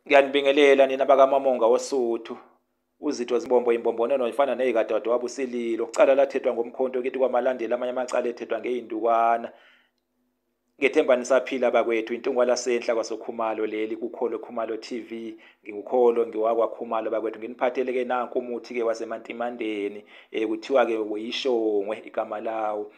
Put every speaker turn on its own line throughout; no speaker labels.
Ngiyanibingelela nina bakamamonga woSuthu. Uzitho Zimbombo imbombonono ifana nezikadadewabo uSililo. Ucala lathethwa ngomkhonto kithi kwamalandela amanye amacala ethethwa ngey'ndukwana. Ngethemba nisaphila bakwethu intungwa lasenhla kwasoKhumalo leli kuKholo Khumalo TV. NginguKholo ngiwakwaKhumalo bakwethu nginiphathele-ke nanku umuthi-ke waseMantimandeni. Eh, kuthiwa-ke uyishongwe igama lawo.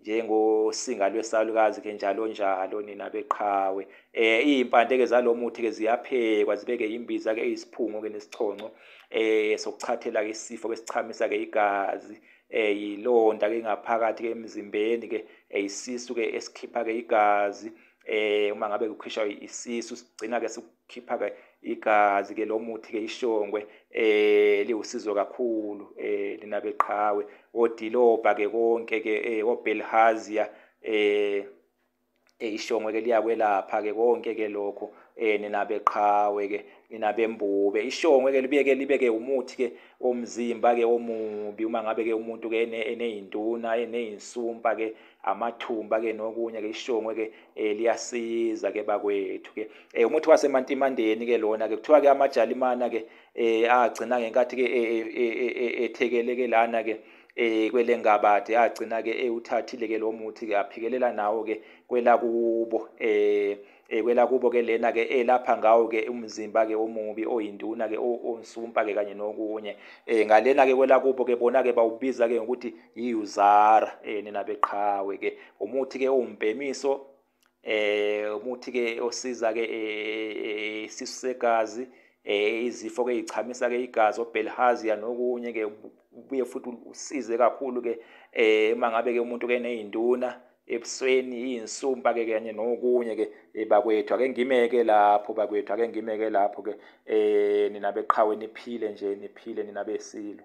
njengosinga lwesalukazi ke njalo njalo nina beqhawe eh izimpande ke zalomuthi ke ziyaphekwa zibeke imbiza ke isiphungo ke nesichonco eh sokuchathela ke isifo ke sichamisa ke igazi eh yilonda ke ngaphakathi ke emzimbeni ke eh, isisu ke esikhipha ke igazi eh uma ngabe kukhishwa isisu sigcina ke khipha ke igazi ke lomuthi ke ishongwe eh liwusizo kakhulu eh lina beqhawe odilobha ke konke ke eh obelhazia eh, eh ishongwe ke liyakwelapha ke konke ke lokho eh nina beqhawe ke nina bembube ishongwe ke libeke libeke umuthi ke omzimba ke omubi uma ngabe ke umuntu ke eneyinduna eneyinsumpa ke amathumba ke nokunye ke ishongwe ke eh, liyasiza ke bakwethu ke eh, umuthi wasemantimandeni ke lona ke kuthiwa ke amajalimana ke eh, agcina ngenkathi ke ethekele ke lana ke eh kwelengabade agcina ke ewuthathile ke lo muthi ke aphikelela nawo ke kwelakubo eh Eh, kwelakubo ke lena ke elapha eh, ngawo ke umzimba ke omubi oyinduna ke onsumpa ke kanye nokunye eh ngalena ke kwelakubo ke bona ke bawubiza ke ngokuthi yiuzara eh nina beqhawe ke umuthi ke umbhemiso eh umuthi ke osiza ke eh, isisegazi eh izifo ke ichamisa ke igazi obelhazia nokunye ke ubuye futhi usize kakhulu ke eh mangabe ke umuntu ke nezinduna ebusweni iyinsumpa ke kanye nokunye ke eh, bakwethu ake ngimeke lapho bakwethu ake ngimeke lapho ke eh nina beqhawe niphile nje niphile nina besilo